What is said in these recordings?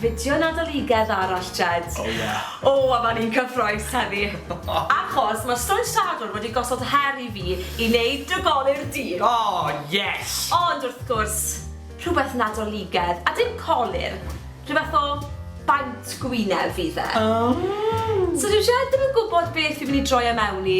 fideo Nadoligedd arall, Jed. O, ie. O, a fan i'n cyffroes heddi. Achos mae Stoes Sadwrn wedi gosod her i fi i wneud drygoli'r dydd. O, oh, yes! Ond wrth gwrs, rhywbeth Nadoligedd, a dim colir. Rhywbeth o baint gwyneb fydd e. Oh. So dwi jed ddim yn gwybod beth fi'n mynd i droi am e mewn i.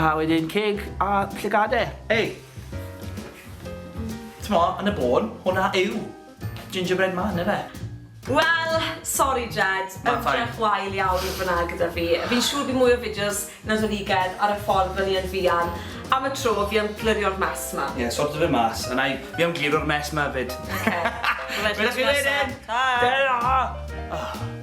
A wedyn ceg a llygade. Ei! T'mo, yn y bôn, hwnna yw gingerbread man, ife? Wel, sori Jed, ymdrech wael iawn fan'na gyda fi. Fi'n siŵr bydd mwy o fideos Nadoligedd ar y ffordd fyny yn fuan. Am y tro, fi am glirio'r mess 'ma. Ie, sorto fe mas, a 'na i. Fi am gliro'r mess 'ma 'fyd. Oce. Wela chi wedyn! Ta! Tara!